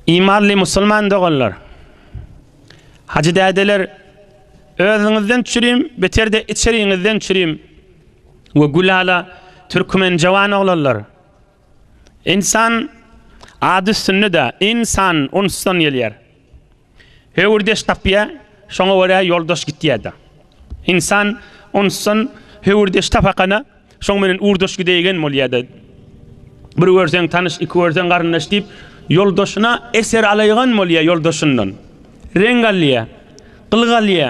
Imanly musulman doganlar! Hajy dädeler, özüňizden çürim, beterde içeriňizden çürim we gülala türkmen jawan oglanlar! Insan ady üstünde-dä, in-san, unsdan gelýär. Höwürdeş tapýa, şoňa görä ýoldaş gitýä-de. Ynsan onsan höwürdeş tapakana, şoň menen urdaş gidäýgen bolýa-da. Bir görseň tanyş, iki görseň garyndaş diýip, ýoldaşyna eser alaýgan bolýa, ýoldaşyndan reň alýa, gylyk alýa.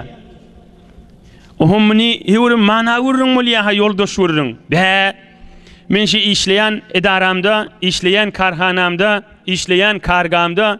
Oho, muny höwürem mana gürrüň bolýa-ha, ýoldaş gürrüň. Bä, men şu işleýän edaramda, işleýän karhanamda, işleýän kargamda,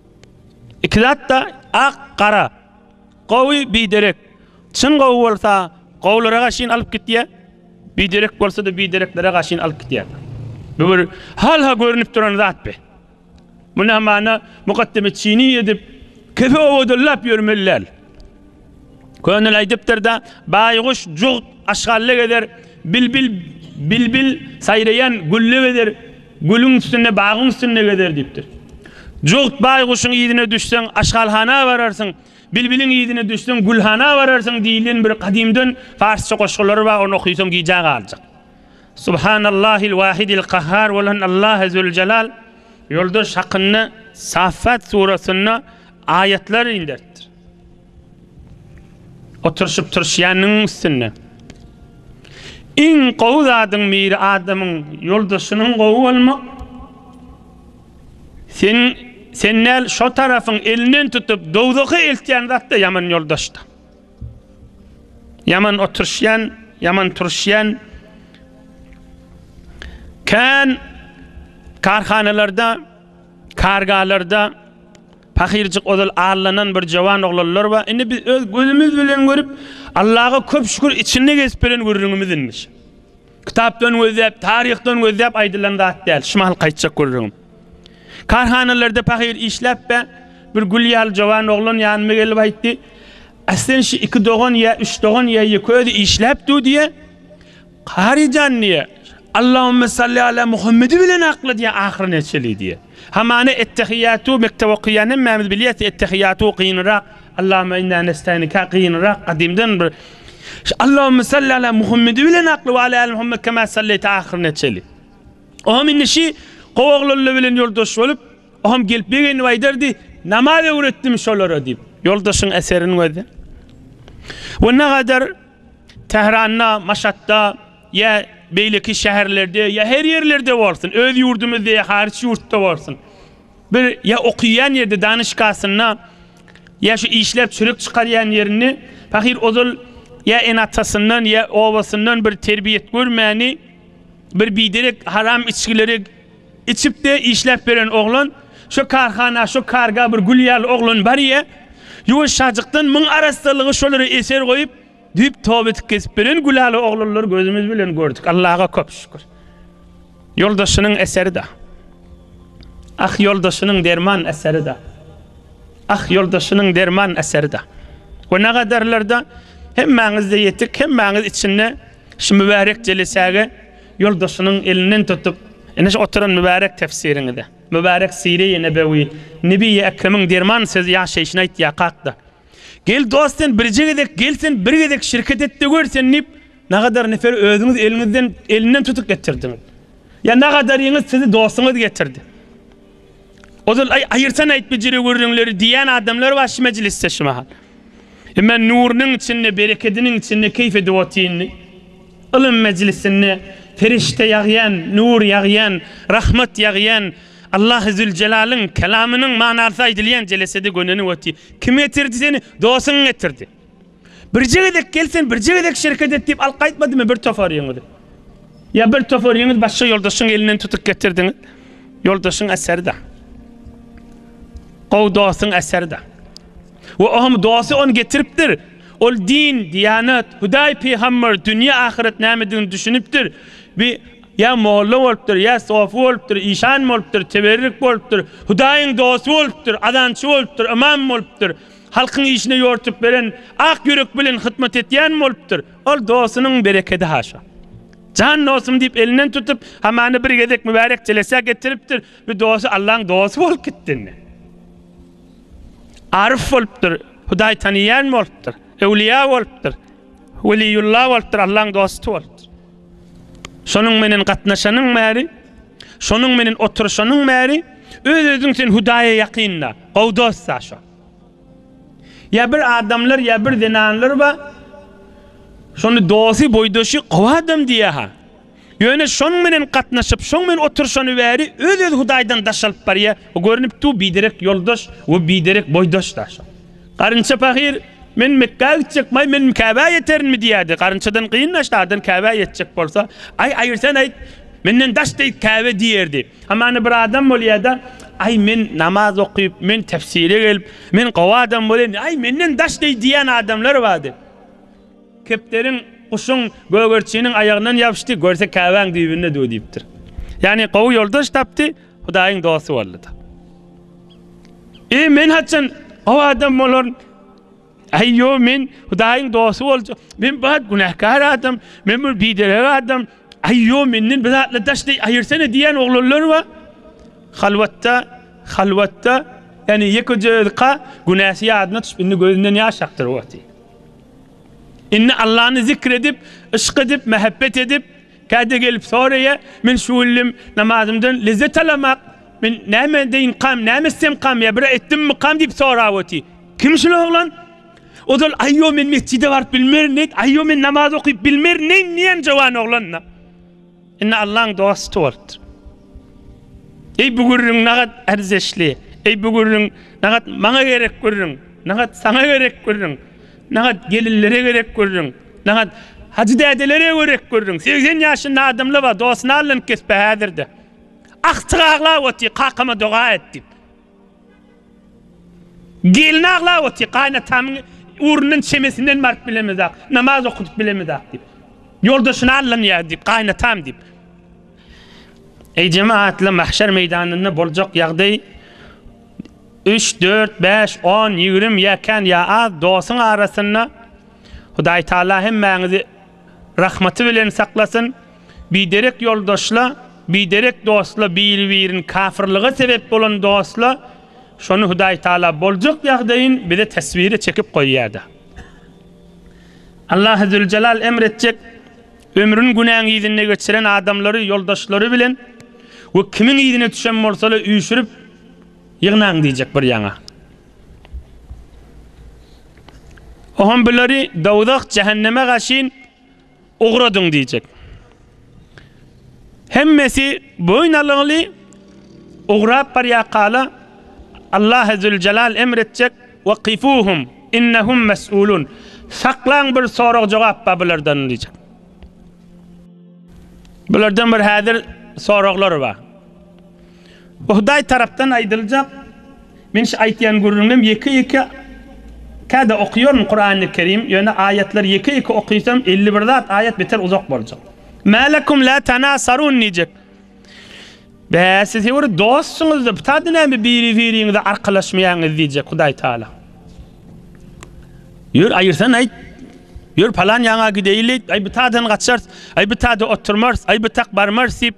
Iki zatda ak, gara. Gowy biderek. Çyn gowy bolsa, gowularyga şin alyp gitýä. Biderek bolsa-da bidereklere gaşyn alyp gitýä. Bu bir halha görünip duran zat be. Muna mana mukaddeme çini edip, kefe owadanlap ýörmeli däl. Könül aýdypdyr-da, Baýguş jugt aşgalla gezer, bilbil bilbil saýraýan gülle gezer, gülüň üstünde, bagyň üstünde gezer diýipdir. Jugt baýguşyň yzyna düşseň, aşgalhana bararsyň, bilbiliň yzyna düşseň, gülhana bararsyň diýlen bir gadymdan parsça goşgular bar, ony okysaň gijä galjak. Subhanallahil wahidil kahhar bolan Allah Ezzeweljelal ýoldaş hakynda Saffat suratynda aýatlar inderipdir. Oturşyp turşýanyň üstünde. Iň gowy zadyň biri adamyň ýoldaşynyň gowy bolmak. Sen sen näl şo tarafyň elinden tutup dowzaha eltýän zatda ýaman ýoldaşda. Ýaman oturşýan, ýaman turşýan. Kän karhanalarda, kargalarda Pahyrjyk ozal allanan bir jawan oglanlar bar, indi biz öz gözümiz bilen görüp, Allaga köp şükür içinde gezip beren gürrüňimiz indi şu. Kitapdan gözläp, taryhdan gözläp aýdylan zat däl, şu mahalky aýtjak gürrüňim. Karhanalarda pahyr işläp be, bir gül ýaly jawan oglan ýanyma gelip aýtdy, Aslen şu iki dogan ýa üç dogan ýa ýeke özi işläp dur diýýä. Kari jan diýe. Allahümme salli ala Muhammedi bilen akla diýe ahyry neçeli diýe. Hamana ettehiýatu mekdep okaýan hemmämiz bilýäs ettehiýatu gynyrak Allahümme inna nestainika gynyrak gadymdan bir Allahümme salli ala Muhammedi bilen akla we ala ali Muhammed kema salleýte ahyry neçeli. Oňam indi şi gowaglylla bilen ýoldaş bolup oňam gelip begenip aýdardy namaz öwretdim şolara diýip. Ýoldaşyň eseriniň özi we nagadar Tähranda, Maşatda ýa beýleki şäherlerde, ýa her ýerlerde bolsun, öz ýurdumyzda ýa haryç ýurtda bolsun, bir ýa okyýan ýerde, danyşgasynda, ýa şu işläp çörek çykarýan ýerinde pahyr ozal ýa ene-atasyndan, ýa obasyndan bir terbiýet görmäni, bir biderek haram içgileri Içipde işläp beren oglan Şo karhana, şo karga bir gül ýaly oglan barýa. Ýuwaş şajykdan Muň arassalygy şolara eser goýup, düýp tobet kesip beren gülaly oglanlary gözümiz bilen gördük. Allaga köp şükür. Ýoldaşynyň eseri-da. Ah, ýoldaşynyň derman eseri-da. Ah, ýoldaşynyň derman eseri-da. We nagadarlarda hemmäňiz-de ýetik, hemmäňiz içinde Şu mübärek jelisäge ýoldaşynyň elinden tutup, Ine şu oturan mübärek tefsiriňize, mübärek Sire-i Nebewi, Nebi-i Ekremiň derman sözi ýaşaýşyny aýtýar, kak-da. Gel dost sen birje gezek gel sen bir gezek şirket et-de gör sen diýip, nagadar neferi özüňiz eliňizden elinden tutup getirdiňiz. Ýa nagadaryňyz sizi dostuňyz getirdi. Ozal, Aý, aýyrsan aýt bejere gürrüňleri diýýän adamlar bar şu mejlisde şu mahal. Emma nurunyň içinde, berekediniň içinde keýp edip otyrny. Ylym mejlisinde perişde ýagýan, nur ýagýan, rahmat ýagýan, Allahy Züljelalyn kelamynyň manasy aýdylýan jelesede gönenip otyr. Kim getirdi seni? Dostuň getirdi. Birje gezek gel sen birje gezek şereket et diýip alk aýtmadymy bir topar ýeňiz. Ýa bir topar ýeňiz başga ýoldaşyň elinden tutup getirdiň. Ýoldaşyň eseri de. Gowy dostuň eseri de. We ohm dosty on getiripdir. Ol din, diýanat, Hudaý, pygamber, dünýä, ahyret nämedigini düşünipdir. Bi ýa molla bolupdyr, ýa sofy bolupdyr, işan bolupdyr, teberrik bolupdyr, Hudaýyň dosty bolupdyr, azançy bolupdyr, ymam bolupdyr. Halkyň işine ýortup beren, ak ýürek bilen hytmat etýän bolupdyr. Ol dostunyň berekedi haşa. Jan dostum diýip elinden tutup, hamana bir gezek mübärek jelesä getiripdir. Bu dosty Allaň dosty bolup gitdi indi. Aryf bolupdyr, Hudaý tanyýan bolupdyr, öwliýa bolupdyr, weliýulla bolupdyr, Allaň dosty bolupdyr. Şonuň menen gatnaşanyň bäri, şonuň menen oturyşanyň bäri, öz-özüň sen Hudaýa ýakynda, gowy dost-a şo. Ýa bir adamlar ýa bir zenanlar bar, şony dosty, boýdaşy gowy adam diýýär-ha. Ýöne şonuň bilen gatnaşyp, şoň bilen oturyşany bäri öz-öz Hudaýdan daş alyp barýar. Bu görnüpdi-u biderek ýoldaş we biderek boýdaş-da şo. Garynça pahyr, Men Mekgä gitjek, baý, men Käbä ýeterinmi diýýärdi. Garynçadan gyn-da şadan Käbä ýetjek bolsa, Aý, aýyrsan aýt, menden daş dek Käbe diýerdi. Hamana bir adam bolýar-da, Aý, men namaz okyp, men tefsire gelip, men gowy adam bolaýyn, aý, menden daş deý diýýän adamlar bar diýip. Kepderiň, guşuň, gögerçiniň aýagyndan ýapyşdy, görse Käbäň düýbünde duw diýipdir. Ýagny gowy ýoldaş tapdy, Hudaýyň dosty boldy-da. Eý, men haçan gowy adam bolaryn? Aý ýo men Hudaýyň dosty boljak. Men bat günäkär adam. Men bir biderek adam. Aý ýo menden bir zatlar daş deý aýyrsana diýýän oglanlar bar. Halwatda, halwatda, ýani ýekeje özika günäsi ýadyna düşüp indi gözünden ýaş akdyryp otyr. Indi Allany zikr edip, yşk edip, mähebbet edip, Käte gelip soraýa, Men şu günlem namazymdan lezzet alamak, men näme edeýinkam, näme etsemkam, ýa bir etdimmikam diýip sorap oty. Kim şul oglan? Ozal Aýýo men metjide baryp bilmerin diýdi, Aýýo men namaz okyp bilmerin neýin diýen jowan oglan-da. Indi Allaň dosty bolupdyr. Eý bu gürrüň nagat erzeşli, eý bu gürrüň nagat maňa gerek gürrüň, nagat saňa gerek gürrüň. Naňa gelinlere gerek görüň. Naňa Hajy dädelere gerek görüň. Segsen ýaşynda adamlar bar, dosyny allanyp kesip häzirde. Agtyk aglap otyr, kakama doga et diýip. Gelin aglap otyr, gaýnatamyň ugrundan çemesinden baryp bilemizak, namaz okudyp bilemizak diýip. Ýoldaşyny allanýar diýip, gaýnatam diýip. Eý jemagatlar, mahşer meýdanynda boljak ýagdaý. Üç, dört, bäş, on, ýigrimi ýa kän, ýa az dostuň arasynda Hudaýtagala hemmäňizi rahmaty bilen saklasyn. Biderek ýoldaşla, biderek dostla, biri-birini kafyrlyga sebep bolan dostla, şony Hudaýtagala boljak ýagdaýyn bize teswire çekip goýýar-da. Allahy Züljelal emr etjek, ömrüni günäň yzynda geçiren adamlary ýoldaşlary bilen we kimiň yzyna düşen bolsa-da üýşürip, Ýygnaň diýjek bir ýaňa. Oham bulary dowzah, jähenneme gaşyn ugradyň diýjek. Hemmesi boýun alygly ugrap barýak hala Allah Ezzülcelal emr etjek, Wa kifuhum innahum mes'ulun. Saklaň bir sorag jogap bar bulardan diýjek. Bulardan bir häzir soraglar bar. Bu Hudaý tarapdan aýdyljak Men şu aýtýan gürrüňem ýeke-ýeke Käde okaýaryn Kurany Kerim, ýöne aýatlary ýeke-ýeke okysam elli bir zat aýat beter uzak boljak. Mä lekum la tanasarun diýjek. Bä siz hewr dostsyňyzda btada näme biri biriňize arkalaşmaýaňyz diýjek Hudaý Taala. Ýör aýyrsan aýt. Ýör palan ýaňa gideýli. Aý btada gaçarys. Aý btada oturmarys. Aý btada barmarys diýip.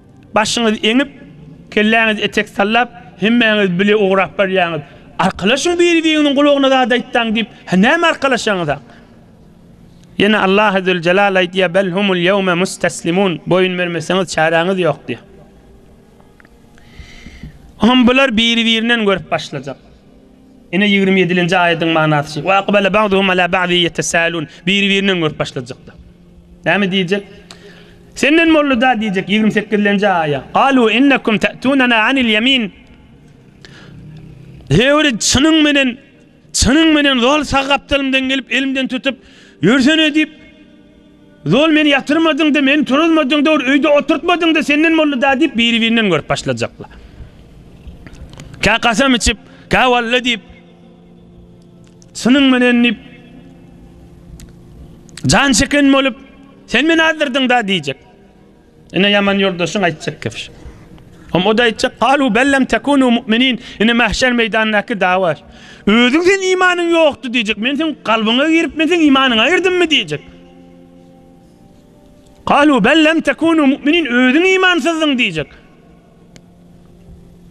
Başyňyzy eňip, kelläňizi etek sallap, hemmäňiz bile ugrap barýaňyz. Arkalaşyň biri-biriňiziň gulagyna zat aýtsaň diýip, hä näme arkalaşaňyzak? Ýene Allah Azzewjelal aýdýar, Bel humul ýewme mustaslimun, boýun bermeseňiz çäräňiz ýok diýýär. Hum bular biri-birinden görüp başlajak. Ine ýigrimi ýedilenji aýadyň manasy şu. Wa akbala ba'duhum ala ba'din ýetesäelun. Biri-birine öňürip başlajaklar. Näme diýjek? Senden boldy-da diýjek ýigrimi sekizlenji aýa. Galu innakum ta'tunana anil ýemin. Höwri çynyň menen, çynyň menen zol sag gapdalymdan gelip elimden tutup ýörsene diýip, Zol meni ýatyrmadyňda, meni turuzmadyňda, bir öýde oturtmadyňda senden mollada diýip biri-birinden görüp başlajaklar. Kä kasam içip, kä walla diýip, synyň menen diýip, jan çeken bolup, sen meni azdyrdyňda diýjek. Ine ýaman ýoldaşyň aýtjak gepi şu. Hem o da aýtjak, "Galu bellem tekunu mu'minin." Ine mahşer meýdanyndaky dawa. Özüň sen imanyň ýokdy diýjek. Men seň kalbyňa girip, men seň imanyňa girdimmi diýjek. Galu bellem tekunu mu'minin. Özüň imansyzdyň diýjek.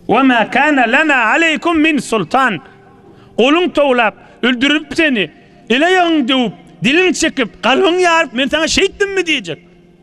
Wa ma kana lana aleykum min sultan. Goluň towlap, öldürip seni, ele ýagyň döwüp, diliň çekip, kalbyň ýaryp, men sana şeýtdimmi diýjek.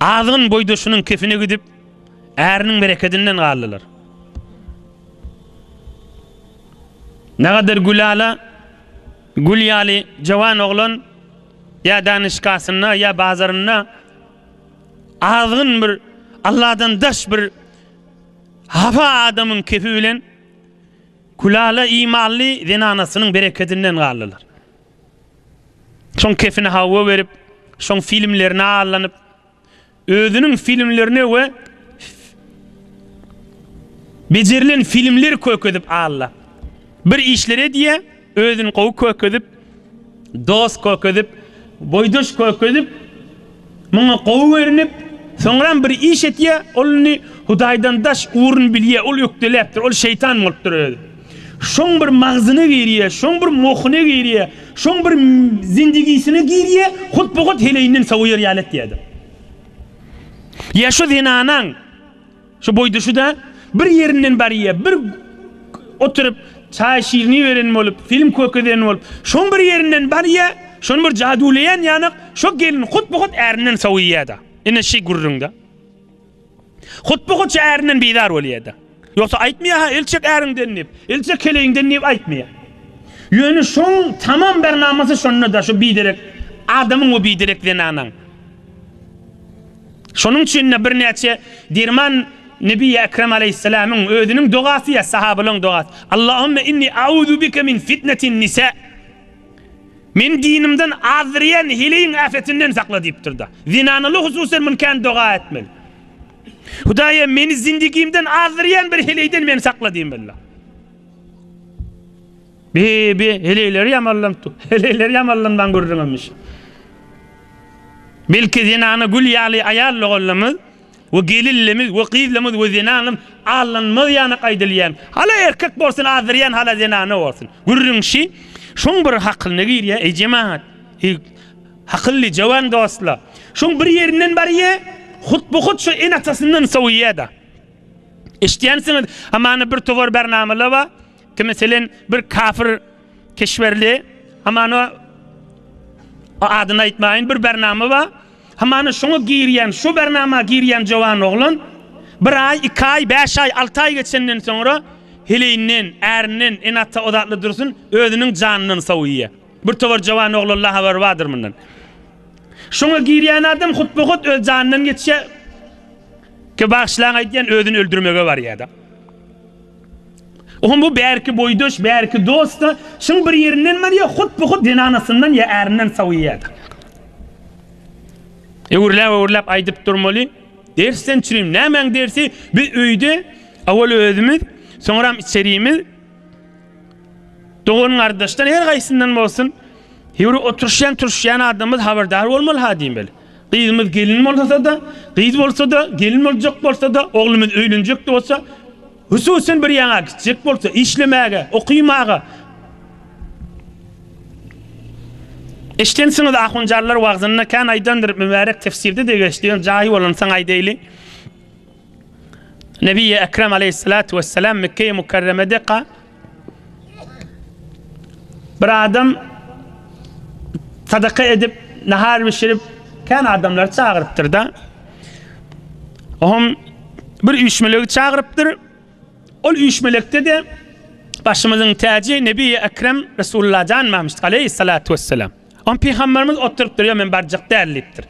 Azgyn boýdaşynyň kefine gidip, äriniň berekedinden galdylar. Nagadyr Gülala gül ýaly jawan oglan ýa danyşgasynda, ýa bazarynda azgyn bir Alladan daş bir hafa adamyň kefi bilen Gülala imanly zenanasynyň berekedinden galdylar. Şoň kepine hawa berip, şoň filmlerine allanyp, özüniň filmlerine we bejerilen filmleri kökezip alla. Bir işler edýä, özüni gowy kökezip, dost kökezip, boýdaş kökezip, Muňa gowy görünip, soňram bir iş etýär, ol indi Hudaýdan daş ugruny bilýär, ol ökdeläpdir, ol şeýtan bolupdyr özi. Şoň bir magzyna girýär, şoň bir mohyna girýär, şoň bir zindigisine girýär, hut-bu-hut heleýinden sowaýar ýaly etýärdir. Ýa şu zenanaň. Şu boýda şuda bir ýerinden barýa bir oturyp çaý şirini beren bolup film kökezeni bolup şoň bir ýerinden barýa şony bir jaduleýän ýanak şo gelin hut bu hut ärinden sowuýada ine şi gürrüňde hut bu hut şo ärinden bizar bolýada ýogsa aýtmaýa ha ilçek äriňden diýip ilçek keleýiňden diýip aýtmaýa ýöne şoň tamam bernamasy şondada şo biderek adamyň we biderek zenanaň. Şonuň üçin-de birnäçe derman Nebi Ekrem aleýhissalamyň özüniň dogasy ýa sahabalaryň dogasy, Allahümme inni a'uzu bike min fitnetin nisa, Meni dinimden azdyrýan heleýiň äfetinden sakla diýipdir-de. Zenanalar hususan muny kän doga etmeli. Hudaýym, meni zindigimden azdyrýan bir heleýden meni sakla diýmeliler. Bi-bi, heleýleri ýamanlanypdyr. Heleýleri ýamanlanman gürrüňemiş. Belki zenana gül ýaly aýal doganlarymyz we gelinlerimiz we gyzlarymyz we zenanlarymyz allanmaz ýanak aýdylýan, hala erkek bolsun azdyrýan hala zenana bolsun. Gürrüňişi şuň bir hakylyna girýär, eý jemagat, eý hakylly jowan dostlar. Şuň bir ýerinden barýar, hut bu hut şu ene-atasyndan sowýar-da. Eşidýänsiňiz, hamana bir towar bernamalar bar, Ki meselen bir kafir keşberli hamana o adyny aýtmaýyn bir bernama bar. Hamana şoňa girýän, şu bernama girýän jowan oglan bir aý, iki aý, bäş aý, alty aý geçenden soňra heleýinden, ärinden, ene ata o zatlar dursun, özüniň janyndan sowýa. Bir towar jowan oglanla habary bardyr mundan. Şoňa girýän adam hutba-hut öz janyndan geçýä. Ki bagşylaň aýdýan özüni öldürmege barýada. Oňa bu bärki boýdaş, bärki dost-da, şuň bir ýerinden bar ýa hut-bu-hut zenanasyndan ýa ärinden sowýar-da. Öwürläp-öwürläp aýdyp durmaly. Dersden çürim, nämäň dersi? Biz öýde owal özümiz, soňram içerimiz, dogan-gardaşdan her gaýsyndan bolsun, ýöwre oturyşýan-turuşýan adamymyz habardar bolmaly-ha diýmeli. Gyzymyz gelin bolsa-da, gyz bolsa-da, gelin boljak bolsa-da, oglumyz öýlenjek bolsa, hususyn bir ýaňa gitjek bolsa, işlemäge, okymaga. Eşidensiňiz ahunjanlar wagzynda kän aýdandyr, mübärek tefsirde-de geçdi, jaýy bolansoň aýdaýly. Nebiýi Ekrem aleýhissalatu wessalam Mekgeýi Mukarremede ka, Bir adam sadaka edip, nahar bişirip, kän adamlary çagyrypdyr-da. Oňam bir üýşmelegi çagyrypdyr. Ol üýşmelekde-de başymyzyň täji Nebiýi Ekrem Resulullah janmamışdyk aleýhissalatu wessalam. Oňa pygamberimiz oturypdyr, Ýok, men barjak däl diýipdir.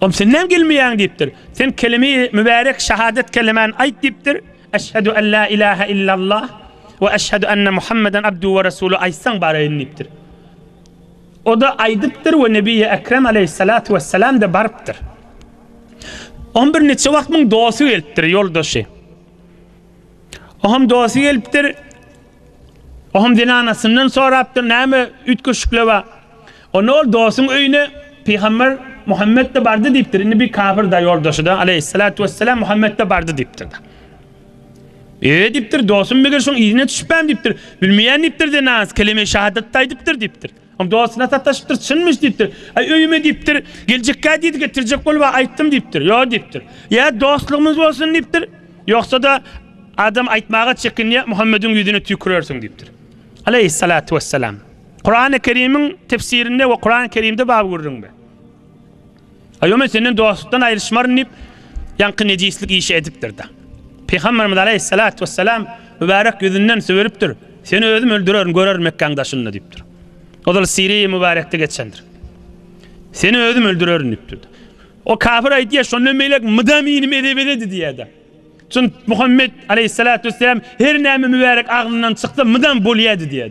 Oňa sen näme gelmeýäň diýipdir. Sen kelime-i mübärek şahadat kelemäni aýt diýipdir. Eşhedü en la ilahe illallah we eşhedü enne Muhammeden abduhu we resuluh aýtsaň baraýyn diýipdir. O-da aýdypdyr we Nebiýi Ekrem aleýhissalatu wessalam-da barypdyr. Oňa bir niçe wagt muň dosty gelipdir, ýoldaşy. Oňam dosty gelipdir, Oham zenanasyndan sorapdyr, Näme üýtgeşikler bar? Onda ol, Dostuň öýüne pygamber Muhammet-de bardy diýipdir. Indi bir kafir-da, ýoldaşy-da, aleýhissalatu wesselam, Muhammet-de bardy diýipdir-de. Eýe diýipdir, dostum, meger şoň yzyna düşüpem diýipdir. Bilmeýän diýipdir, zenanasy keleme-i şahadat-da aýdypdyr diýipdir. Ol dostuna sataşypdyr, çynmyş diýipdir. Aý öýüme diýipdir, geljekkä diýdi, getirjek bolup-a aýtdym diýipdir. Ýok diýipdir. Ýa dostlugymyz bolsun diýipdir, ýogsa-da adam aýtmaga çekinýär, Muhammediň ýüzüne tüýkürersiň diýipdir. Aleýhissalatu wessalam. Kurany Kerimiň tefsirinde we Kurany Kerimde bab gürrüňde. Aýo men senden dostlukdan aýryşmaryn diýip, ýaňky nejislik işi edipdir-de. Pygamberimiz aleýhissalat wessalam mübärek ýüzünden sübülipdir, Seni özüm öldürerin, görerin Mekgäň daşynda diýipdir. Ozal Siri mübärekde geçendir. Seni özüm öldürerin diýipdir. O kafir aýdýar, şondan beýläk mydam inim ede-bededi diýýär-de. Çünki Muhammet aleýhissalat wessalam her näme mübärek agzyndan çyksa mydam bolýardy diýýär.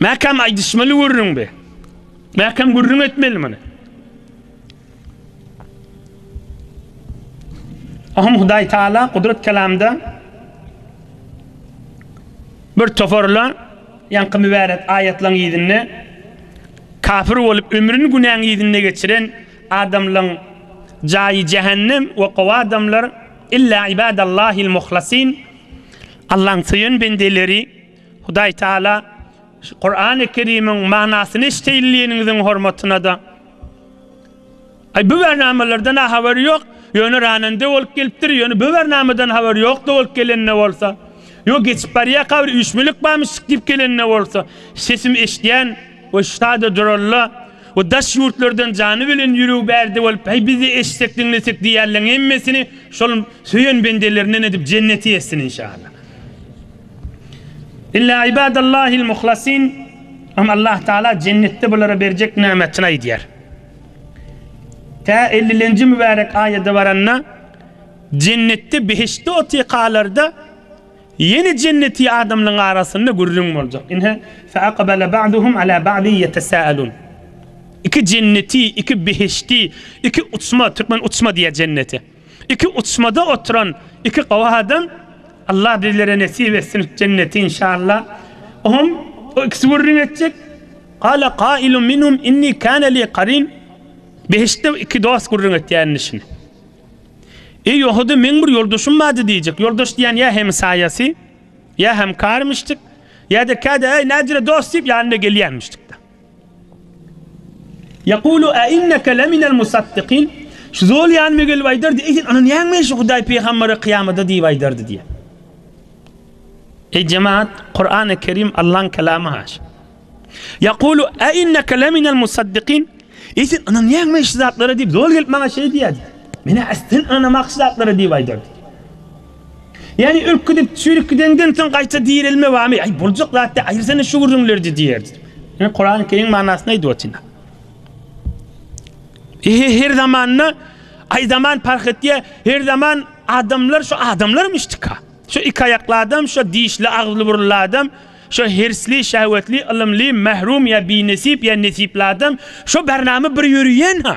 Mäkäm aýdyşmaly gürrüň be. Mäkäm gürrüň etmeli muny. Ahym Hudaý Taala Gudrat kelamda bir toparla ýaňky mübärek aýatlaryň yzynda kafir bolup ömrüni günäň yzynda geçiren adamlaryň jaýy jähennem we gowy adamlar illa ibadallahil muhlasyn Allaň söýen bendeleri Hudaý Taala şu Kurany Kerimiň manasyny eşdeýinligiňiziň hormatyna-da Aý bu bernamalardan-a habary ýok, ýöne ranende bolup gelipdir, ýöne bu bernamadan habary ýok-da bolup gelende bolsa, ýo geçip barýaka bir üýşmülik barmyşdyk diýip gelende bolsa, sesim eşdýän we şada duralla we daş ýurtlardan jany bilen ýüregi bärde bolup Aý biz-de eşsek diňlesek diýýärleň hemmesini şol söýen bendelerinden edip jenneti etsin inşallah. Illa ibadallahil muhlasin Ama Allah Taala jennetde bulara berjek nämetini aýdýar. Tä 50-nji mübärek aýada baranda jennetde behiştde otykalarda ýene jenneti adamlaryň arasynda gürrüň boljak. Ine, fe aqbala ba'duhum ala ba'di yetesaalun. Iki jenneti, iki behişti, iki uçma, türkmen uçma diýýär jennete. Iki uçmada oturan iki gowy adam Allah bizlere nesip etsin jenneti inşalla oňam o ikisi gürrüň etjek Gale gailun minhum inni kane li karin behiştde iki dost gürrüň etýär indi şini Eý ýohudy meň bir ýoldaşym bardy diýjek ýoldaş diýýän ýa hemsaýasy ýa hemkarymyşdyk ýa-da käde äý nädire dost diýip ýanyna gelýärmişdikde. Ýekulu, Äinneke leminel musaddikin, Şu zol ýanyma gelip aýdardy, Eý, sen ynanýaňmy şu Hudaý pygambere kyýamada diýip aýdardy diýýär. Eý, jemagat, Kurany Kerim Allaň kelamy haş. Ýekulu, Äinneke leminel musaddikin, Eý, sen ynanýaňmy şu zatlara diýip zol gelip maňa şeý diýýärdi. Men-ä, Ästin ynanamakçy zatlara diýip aýdardy. Ýagny ölküdip çürik gideňden soň gaýta direlme barmy? Aý boljak zatdy, aýyrsana şu gürrüňlerdi diýerdi. Men Kurany Kerim manysyny aýdyp otyryn. Ehe her zamanda aý zaman parh etýär, her zaman adamlar şu adamlarmyşdyka. Şu iki aýakly adam, şu dişli agzly burunly adam, şu hersli, şähwetli, ylymly, mährum ýa binesip ýa nesipli adam, şu bernama bir ýöriýenha.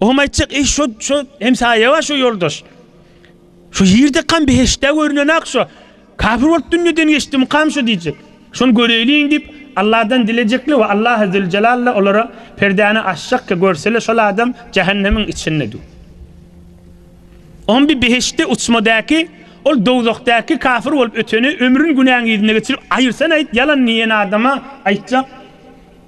Oňam aýtjak iş şo, şo hemsaýa bar şo ýoldaş. Şu ýerde kam beheştde görünen ak şo. Kafir bolup dünýeden geçdim kam şo diýjek. Şony göreýliň diýip Allahdan dilejekli we Allah azze jalalla olara perdäni açjak ki görsele şol adam jahannemiň içinde du. Oňam bir beheştde uçmadaki ol dowzahdaki kafir bolup öteni ömrün günäň yzyna geçirip aýyrsan aýt ýalan diýen adama aýtjak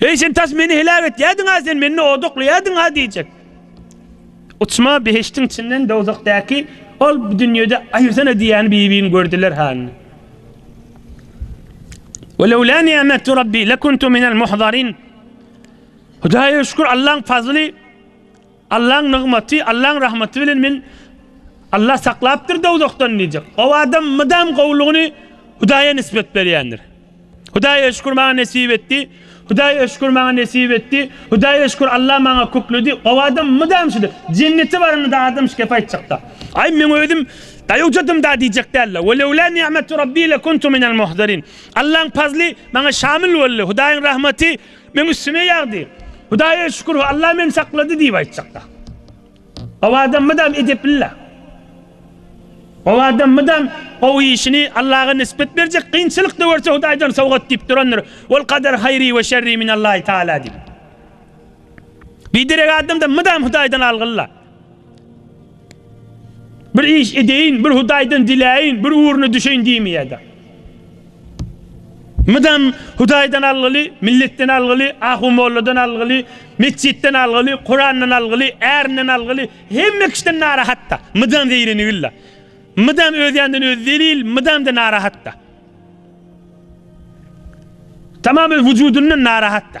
Eý, sen tas meni heläk etýärdiň-ä, sen meni odaklaýardyň-a diýjek. Uçma behiştiň içinden dowzahdaky Ol bu dünýede aýyrsana diýýän bibini gördüler hany. Ve lewlâ ni'metu Rabbi lekuntu minel muhzarin. Hudaýa şükür, Allaň fazly. Allaň nygmaty, Allaň rahmaty bilen men Allah saklapdyr dowzahdan diýjek. O adam mydam gowlugyny Hudaýa nisbet berýändir. Hudaýa şükür maňa nesip etdi, Hudaýa şükür maňa nesip etdi, Hudaýa şükür Allah maňa kökledi. O adam mydam şudur. Jennete baranyda adam şu gepi aýtjakda. Aý men özüm daýawjadym da diýjek däldi. Ve lewlâ ni'metu Rabbii lekuntu minel muhdarin. Allaň pazly maňa şamil boldy. Hudaýyň rahmaty Meň üstüme ýagdy. Hudaýa şükür, Alla meni saklady diýip aýtjakda. Gowy adam mydam edepli-le. Gowy adam mydam gowy işini Allaga nispet berjek, kynçylyk-da görse Hudaýdan sowgat diýip durandyr. Ol kader haýri we şerri minallahi taala diýip. Biderek adam-da mydam Hudaýdan algyly-la. Bir iş edeýin, bir Hudaýdan diläýin, bir ugruna düşeýin diýmeýärdi. Mydam Hudaýdan algyly, milletden algyly, ahu molladan algyly, metjitden algyly, Kurandan algyly, ärinden algyly, hemme kişiden narahatda. Mydam zeýrenigil-la. Mydam öz ýanyndan özi zelil, mydam-da narahatda. Tamam öz wujudyndan narahatda.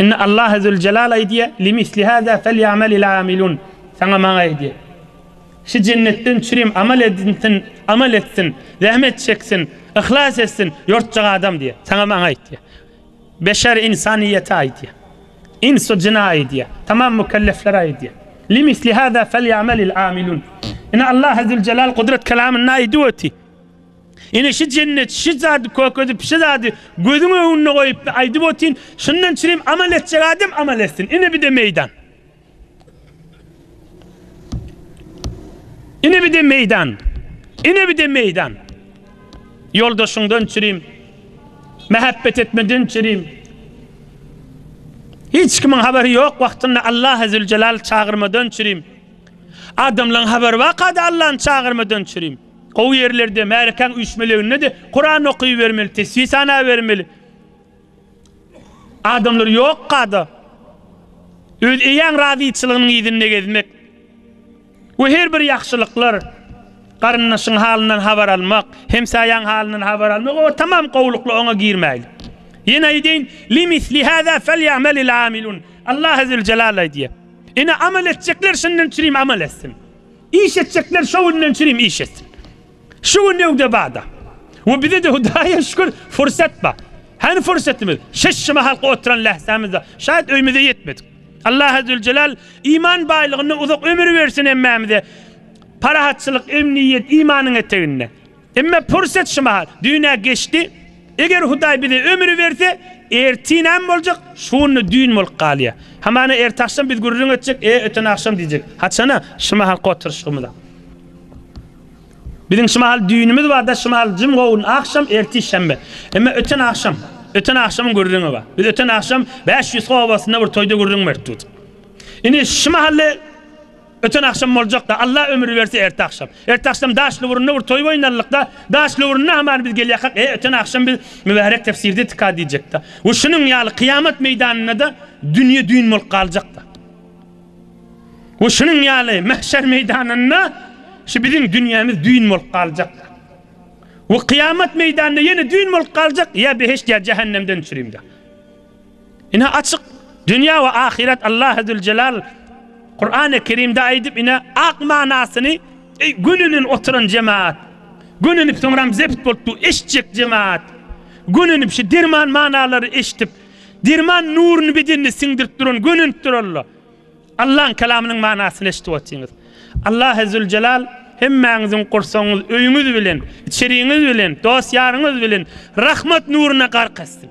Indi Allah Ezzülcelal aýdýa, Limisli hâzâ felyamelil âmilûn, Saňa Maňa aýdýa, Şu jennetden üçinem amal edinsin, amal etsin, zähmet çeksin, yhlas etsin, ýortjak adam diýýä. Saňa Maňa aýdýa. Beşer insanyýete aýdýa. Ins-u jina aýdýa. Tamam mükelleflere aýdýa. Limisli hâzâ felyamelil âmilûn. Indi Allah Ezzülcelal Gudrat kelamynda aýdyp öti. Ine şu jennet şu zady kökezip şu zady gözüň öňünde goýupda aýdyp otyn şundan çirim amal etjek adam amal etsin ine bide meýdan. Ine bide meýdan. Ine bide meýdan. Ýoldaşyňdan çirim mähebbet etmeden çirim. Hiç kimiň habary ýok wagtynda Allah azze we çagyrmadan çirim. Adamlaryň habary waka da Allahny çagyrmadan çirim. Gowy ýerlerde, märekäň üýşmeleginde-de Kuran okybermeli, tesbi sanabermeli. Adamlar ýokka-da, öz eýäň razyçylygynyň yzynda gezmek we her bir ýagşylyklar, garyndaşyň halyndan habar almak, hemsaýaň halyndan habar almak, oňa tamam gowulykly oňa girmäýlik. Ýene aýdaýyn, Li misli hâzâ felýa'melil âmilûn. Allah Ezzewjelal aýdýar. Ine, amal etjekler şundan çürim amal etsin. Iş etjekler şo günden çirim iş etsin. Şu gün öwde bada. We bizede Hudaýa şükür fursat bar. Hany fursatymyz? Şeşşi mahalky oturan lähzämizde şaýat öýmüze ýetmedik. Allah Azzewjelal iman baýlygynda uzak ömür bersin hemmämize. Parahatçylyk, emniýet imanyň eteginde. Emma pursat şu mahal, düýn-ä geçdi. Eger Hudaý bize ömri berse, ertir näme boljak, şu günde düýn bolup galýar. Hamana ertagşam biz gürrüň etjek, e, öten agşam diýjek. Haçan-a, şu mahalky oturyşygymyz-a. Biziň şu mahal düýnümiz bar-da, şu mahal jüm gowun, agşam, ertir şenbe. Emma öten agşam, öten agşamyň gürrüňi bar. Biz öten agşam Bäşýüzk obasynda bir toýda gürrüň beripdik. Indi şu mahal-le Öten agşam boljakda, Alla ömür berse erte agşam. Erte agşam Daşlyburunda bir toý oýnalykda, Daşlyburunda hamany biz gelýakak, e, öten agşam biz mübärek tefsirde tika diýjekda. We şunuň ýaly kyýamat meýdanynda-da dünýe düýn bolup galjakda. We şunuň ýaly mähşer meýdanynda şu biziň dünýämiz düýn bolup galjakda. We kyýamat meýdanynda ýene düýn bolup galjak, ýa beheşt ýa jähennemden çürimde. Ine açyk, dünýä we ahyret Allahezüljelal Kurany Kerimde aýdyp ine ak manasyny Eý gönenip oturan jemaat, gönenip soňram zebt bolup du eşitjek jemaat, gönenip şu derman manalary eşitip, derman nuruny bedenine siňdirip duran gönenip duralla. Allahyň kelamynyň manasyny eşitip otyňyz. Allahezüljelal hemmäňiziň gursagyňyz, öýüňiz bilen, içeriňiz bilen, dost ýaryňyz bilen rahmat nuruna gark etsin.